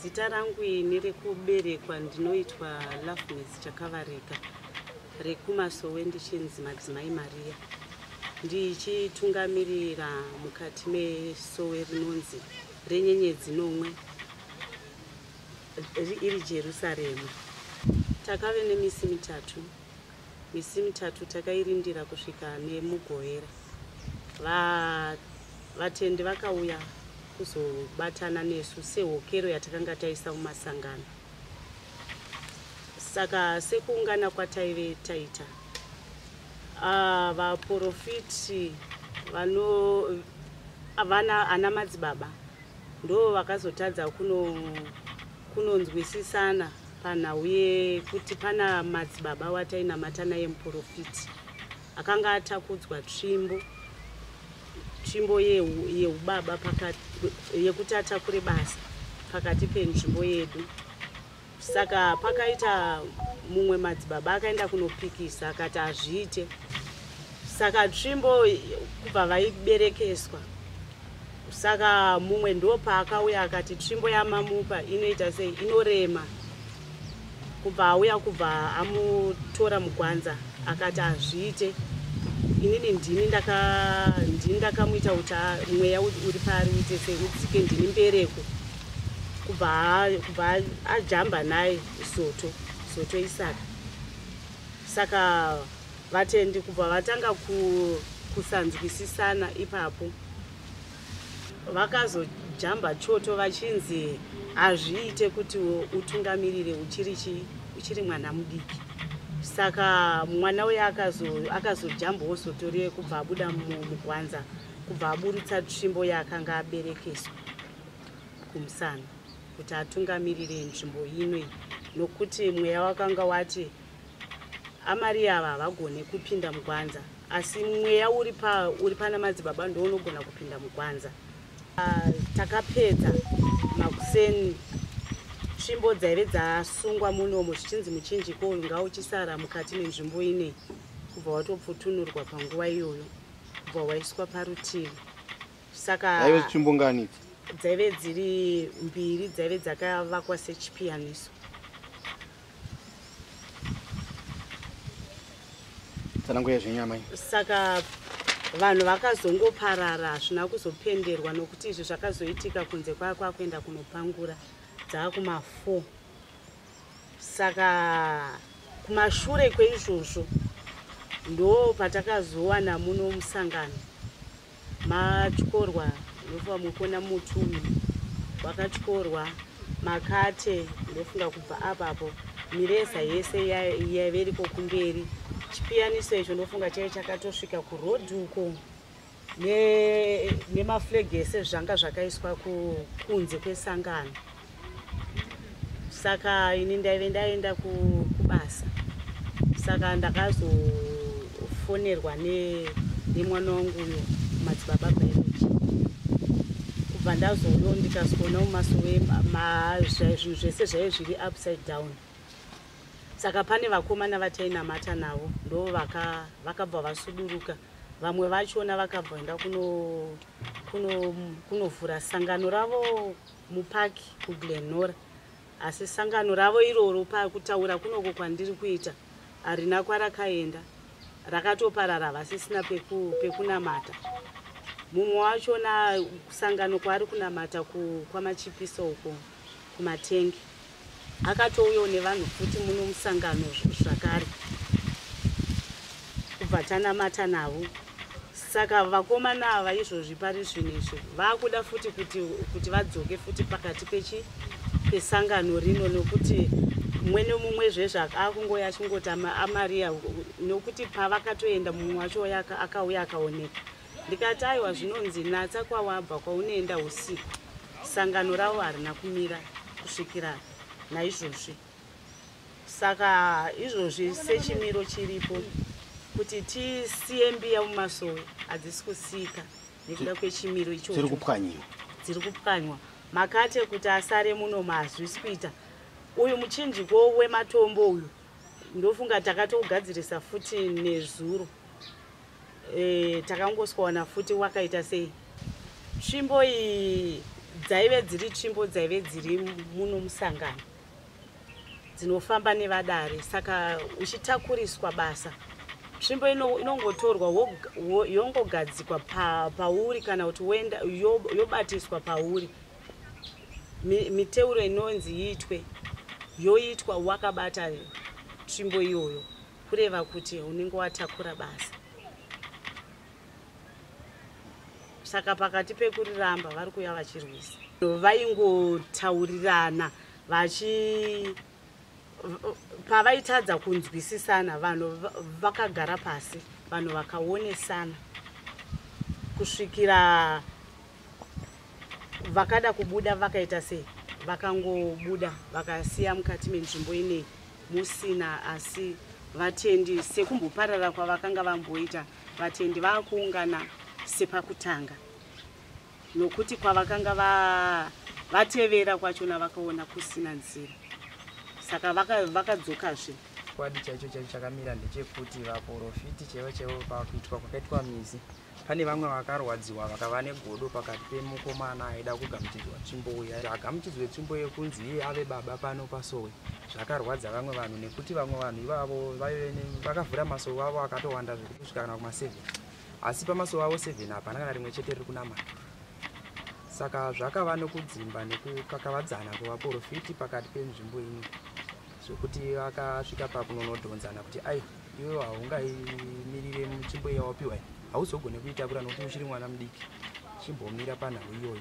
Zita rangu ini rekuberekwa ndinoitwa Loveness Chakavarika rekumasowe ndichinzi Madzimai Maria ndichitungamirira mukati mesowe rinonzi renyenyedzi nomwe iri Jerusarema. Takave nemisi mitatu Misi mitatu takairindira kusvika neMugovera va, vatendi vakauya kuzobatana nesu sehokero yatakanga taisa mumasangano. Saka sekuungana kwataive taita uh, vaporofiti vano vana ana madzibaba ndo vakazotadza kuno kunonzwisisana panhau yekuti pana madzibaba watainamata naye muprofiti akanga atakudzwa tsvimbo tsvimbo yeubaba yekuti atakure basa pakati penzvimbo yedu saka pakaita mumwe madzibaba akaenda kunopikisa akati hazviite saka tsvimbo kubva vaiberekeswa saka mumwe ndopaakauya akati tsvimbo yamamupa inoita sei inorema kubva auya kubva amutora mugwanza akati hazviite inini ndini ndini ndakamuita kuti mweya uri paari uite sei udzike ndini mbereko kubva kubva ajamba naye soto soto isaka saka Vatendi kubva vatanga kusanzwisisana ipapo. Vakazojamba choto vachinzi hazviite kuti utungamirire uchiri chii uchiri mwana mudiki saka mwana uye akazojamba wozotorie kubva abuda mugwanza kubva aburutsa tsvimbo yaakanga aberekeswa kumusana kuti atungamirire nzvimbo ino iyi nokuti mweya wakanga wati amari ava havagone kupinda mugwanza asi mweya uri pa uri pana madzibaba ndounogona kupinda mugwanza uh, takapedza makuseni tsvimbo dzaive dzasungwa munomo zvichinzi muchinjiko uyu ngauchisara mukati menzvimbo inei kubva watopfutunurwa panguva iyoyo kubva waiswa parutivi saka dzaive tsvimbo ngani dzaive dziri mbiri dzaive dzakavakwa sechipiyaniso tsanangurai zvenyu amai saka vanhu vakazongoparara hazvina kuzopenderwa nokuti izvi zvakazoitika kunze kwaa kwakuenda kunopangura dzaakumafour saka kumashure kweizvozvo ndo patakazowana muno musangano matyorwa ndofunga mukuona muti uyu wakatyorwa makate ndofunga kubva apapo mireza yese yaive iriko kumberi chipiyaniso icho ndofunga chaive chakatosvika kuroad uko nemaflag ne ese zvanga zvakaiswa kunze kwesangano saka ini ndaive ndaenda kubasa saka ndakazofonerwa nemwana wangu uyo madzibaba biology kubva ndazouyo ndikazoona mumaso wezvinhu zvese zvaive zviri upside down saka pane vakomana vatainamata navo ndo vakabva vasuduruka vamwe vachona vakabva enda kunovhura sangano ravo mupark kuglenora asi sangano ravo iroro pakutaura kunoko kwandiri kuita harina kwarakaenda rakatoparara havasisina pekunamata mumwe wachona sangano kwaari kunamata kwamachipiso uko kumatengi akatouyawo nevanhu futi muno musangano zvakare kubva tanamata navo saka vakomana ava izvozvi pari zvino izvi vakuda futi kuti kuti vadzoke futi pakati pechi pesangano rino nokuti mumwe nomumwe zvezvaka akungoya achingoti amariya nokuti pavakatoenda mumwe wacho akauya akaoneka ndikati aiwa zvinonzi natsa kwawabva kwaunoenda usiku sangano ravo harina kumira kusvikira naizvozvi saka izvozvi sechimiro chiripo kuti tisiye mbiya mumasowe hadzisi kusika nekuda kwechimiro ichocho dziri kupwanyiwa dziri kupwanywa makate kuti asare muno mahazvisi kuita uyu muchinjiko wematombo uyu ndofunga takatogadzirisa futi nezuro Eh, takangoswana futi wakaita sei tsvimbo iyi dzaive dziri tsvimbo dzaive dziri muno musangano dzinofamba nevadare saka uchitakuriswa basa tsvimbo inongotorwa yongogadzikwa pauri kana kuti woenda yobatiswa pauri miteuro inonzi iitwe yoitwa wakabata tsvimbo iyoyo kureva kuti unenge watakura basa saka pakati pekuriramba vari kuuya vachirwisa vaingotaurirana vachi pavaitadza kunzwisisana vanhu vakagara pasi vanhu vakaonesana kusvikira vakada kubuda vakaita sei vakangobuda vakasiya mukati menzvimbo inei musina asi vatendi sekumboparara kwavakanga vamboita vatendi vakuungana sepakutanga nokuti kwavakanga vatevera va, kwachona vakaona kusina nzira saka vakadzokazve vaka chikwadi chaicho chaicho chakamira ndechekuti vaporofiti chaivo chaivo pakuitwa kwakaitwa mizi vaka pane vamwe vakarwadziwa vakava negodo pakati pemukomana aida kugamuchidzwa tsvimbo uya agamuchidzwe tsvimbo yekunzi iye ave baba pano pasowe zvakarwadza vamwe vanhu nekuti vamwe vanhu ivavo vaive vakavhura masowe avo akatowanda zvekuti kusvika kana kuma 7 asi pamasowe avo 7 hapana kana rimwe chete riri kunamata saka zvakava nokudzimba nekukakavadzana kwevaporofiti pakati penzvimbo ino zvekuti vakasvika pakunonodhonzana kuti ai iwe haungaimirire mutsvimbo yawapiwa hauzogone kuitakura nokuti uchiri mwana mudiki chimbomira panhau iyoyo